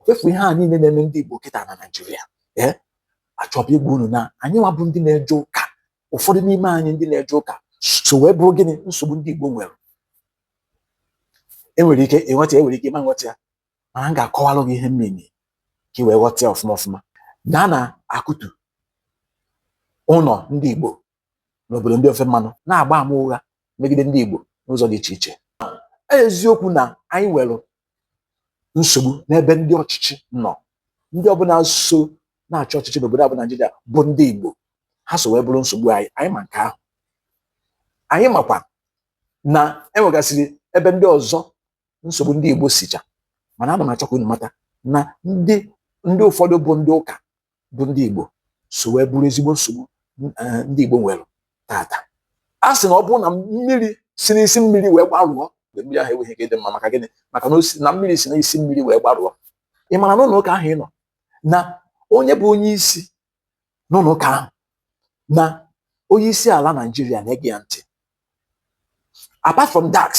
fefu ihe a niile na-eme ndị Igbo kịta na Naịjirịa ee eh? achọọ m ịgwa unu na anyị nwa bụ ndị na-eje ụka ụfọdụ n'ime anyị ndị na-eje ụka so wee bụrụ gịnị nsogbu ndị Igbo nwere i nwere ike ịghọta i nwere ike ị ma aghọta ya mana m ga-akọwalụ gị ihe m mean ka ị wee ghọta ya ọfụma ọfụma na a na-akụtu ụlọ ndị Igbo n'obodo ndị ofe mmanụ na-agba ama ụgha megide ndị Igbo n'ụzọ dị iche iche eziokwu na anyị nwere nsogbu n'ebe ndị ọchịchị nọ ndị ọbụla so na-achị ọchịchị n'obodo a bụ Naijiria bụ ndị Igbo ha so wee bụrụ nsogbu anyị anyị ma nke ahụ anyị makwa na enwegasịrị ebe ndị ọzọ nsogbu ndị Igbo sicha mana ana m achọ ka unu mata na ndị ndị ụfọdụ bụ ndị ụka bụ ndị Igbo so wee bụrụ ezigbo nsogbu eh, ndị Igbo nwere tata a sị na ọ bụrụ na mmiri si n'isi mmiri wee gbarụọ mgbe mmiri ahụ enweghị ike ịdị mma maka gịnị maka na mmiri si n'isi mmiri wee gbarụọ ị mara n'ụlọ ụka ahụ ị nọ na onye bụ onye isi n'ụlọ ụka ahụ na onye isi ala Naijiria na-ege ya ntị apart from that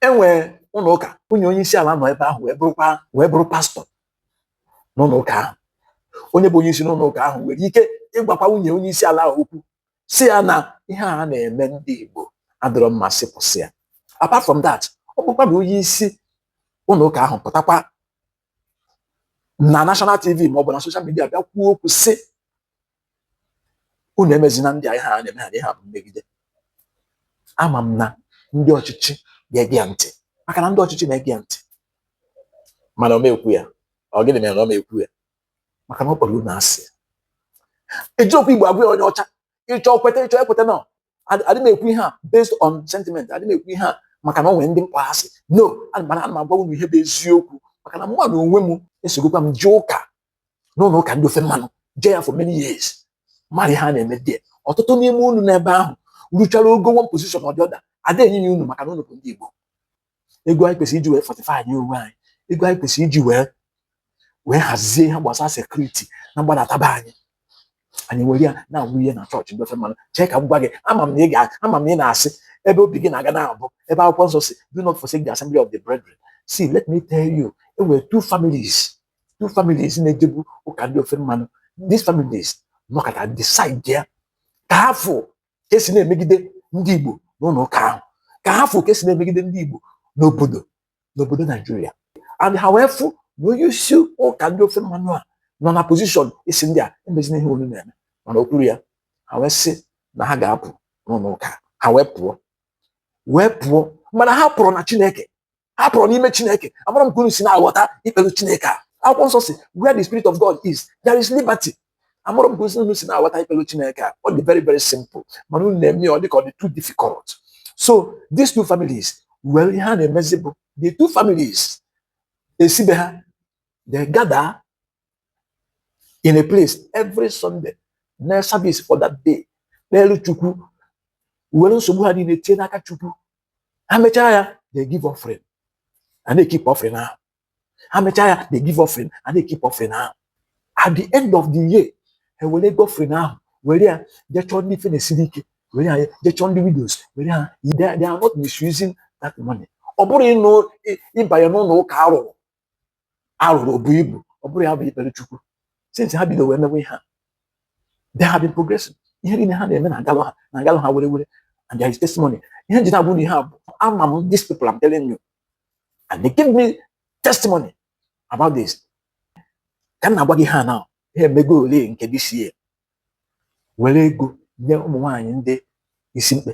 e nwere ụlọ ụka nwunye onye isi ala nọ ebe ahụ wee bụrụkwa wee bụrụ pastọ n'ụlọ ụka ahụ onye bụ onye isi n'ụlọ ụka ahụ nwere ike ịgwakwa nwunye onye isi ala ahụ okwu sị ya na ihe a na-eme ndị Igbo adịrọ mma sị kwụsị ya apart from that ọ bụkwa na onye isi ụlọ ụka ahụ pụtakwa na national tv ma ọ bụ na social media bịa kwuo okwu sị unu emezina ndị a ihe a na-eme ha na ihe a bụ mmegide ama m na ndị ọchịchị ga-ege ya ntị maka na ndị ọchịchị na-ege ya ntị mana ọ ma ekwu ya ọ gịnị mere na ọ ma ekwu ya maka na ọ kpọrọ unu asị e ji okwu Igbo agwa onye ọcha ị chọọ kweta ị chọọ ekwetana adị m ekwu ihe a based on sentiment adị m ekwu ihe a maka na ọ nwere ndị m kpọ asị no ana m ana m agwa unu ihe bụ eziokwu maka na mụ nwa n'onwe m esogokwa m jee ụka n'ụlọ ụka ndị ofe mmanụ jee ya for many years mara ihe a na-eme there ọtụtụ n'ime unu n'ebe ahụ ruchara ogo one position or the other ada enye ya unu maka na unu bụ ndị Igbo ego anyị kwesịrị iji wee fortify anyị onwe anyị ego anyị kwesịrị iji wee wee hazie ihe gbasara security n'agbataobi anyị anyị ewere ya na-awụnye na chọọchị ndị ofe mmanụ chee ka m gwa gị ama m na ị ga ama m na ị na-asị ebe obi gị na-aga na-abụ ebe akwụkwọ nsọ sị do not forsake the assembly of the brethren see let me tell you e nwere two families two families na-ejebu ụka ndị ofe mmanụ these families nọkọta decide ya ka ha fụ ka esi na-emegide ndị Igbo n'ụlọ ụka ahụ ka ha fụ ka esi na-emegide ndị Igbo n'obodo n'obodo Naijiria and ha wee fụ na onye isi ụka ndị ofe mmanụ a nọ na position ịsị ndị a emezina ihe unu na-eme mana o kwurọ ya ha wee sị na ha ga-apụ n'ụlọ ụka ha wee pụọ wee pụọ mana ha apụrọ na Chineke ha pụrụ n'ime chineke amarọ m ka unu si na-aghọta ikpere chineke a akwụkwọ nsọ sị where the spirit of god is there is liberty amarọ m ka unu si na-aghọta ikpere chineke a ọ dị very very simple mana unu na-eme ya ọ dị ka ọ dị too difficult so these two families were ihe ha na-emezi bụ the two families esi be ha they gather in a place every Sunday na service for that day kpelu chukwu were nsogbu ha niile tie n'aka chukwu ha mechaa ya they give offering and they keep offering ahụ ha mechaa ya they give offering and they keep offering ahụ at the end of the year ha were ego offering ahụ were ya jee chọọ ndị ife na-esiri ike were ya jee chọọ ndị widows were ha they are not misusing that money ọ bụrọ ịnụ ịbanye n'ụlọ ụka a rụrụ a rụrụ o bu ibu ọ bụrọ ya bụ ikpere chukwu since ha bido wee mewe ihe a they have been progressing ihe niile ha na-eme na-agalụ ha na-agalụ ha were were and there is testimony ihe m ji na-agwa unu ihe a bụ ama m these people I'm telling you and they give me testimony about this ka m na-agwa gị ihe a na ha emegolu nke this year were ego nye ụmụ nwaanyị ndị isi mkpe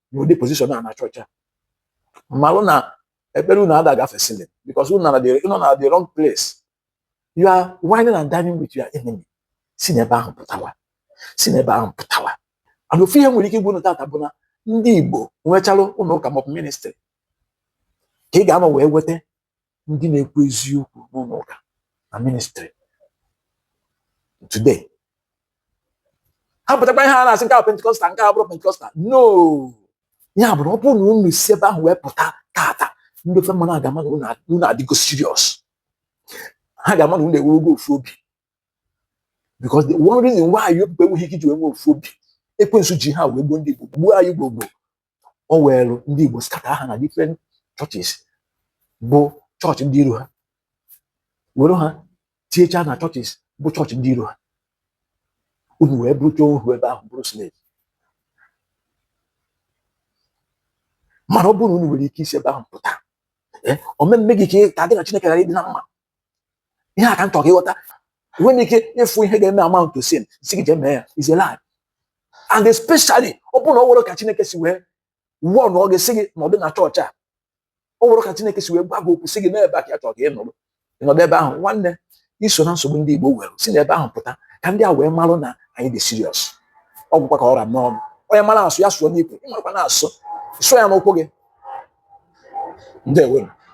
n'ụdị position a na chọọchị a malụ na ekpere unu ada agafe ceiling because unu nọ na the wrong place you are wining and dining with your enemy si n'ebe ahụ pụtawa si n'ebe ahụ pụtawa and ofu ihe m nwere ike ịgwa unu tata bụ na ndị Igbo nwechalụ ụlọ ụka maọbụ ministry ka ị ga-anọ wee weta ndị na-ekwu eziokwu n'ụlọ ụka na ministry today ha pụtakwa ihe a na-asị nke a Pentecostal nke a abụrọ Pentecostal no ya bụrụ ọ bụrụ na unu si ebe ahụ wee pụta tata ndị ofe mmanụ ga-ama na unu adịgo serious ha ga-ama na unu enwego ofu obi because the one reason why you people enweghị ike iji wee nwee ofu obi ekwensu ji ha wee gbuo ndị Igbo gbuo anyị gbogbo o weelụ ndị Igbo scatter ha na different churches bụ chọọchị ndị iro ha were ha tinyechaa na churches bụ chọọchị ndị iro ha unu wee bụrụcha ohu ebe ahụ bụrụ slave mana ọ bụrụ na unu nwere ike isi ebe ahụ pụta eh, ọ ma eme gị ka ị ka gị na Chineke ghara ịdị na mma ihe a ka m chọrọ ka ị ghọta enweghị m ike ịfụ ihe ga-eme amount to sin sị gị jee mee ya is a lie and especially ọ bụrụ na o nwerọ ka chineke si wee kwuo na ọ ga-asị gị nọdụ na chọọchị a o nwerọ ka chineke si wee gwa gị okwu sị gị na ebe a ka ya chọrọ ka ị nọrọ ị nọdụ ebe ahụ nwanne i so na nsogbu ndị igbo nwere si n'ebe ahụ pụta ka ndị a wee marụ na anyị dị serious ọ gwụkwa ka ọ ra m n'ọnụ onye mara asụ ya sụọ n'ikwe ị marọkwanụ asụ sụọ ya n'ụkwụ gị ndewo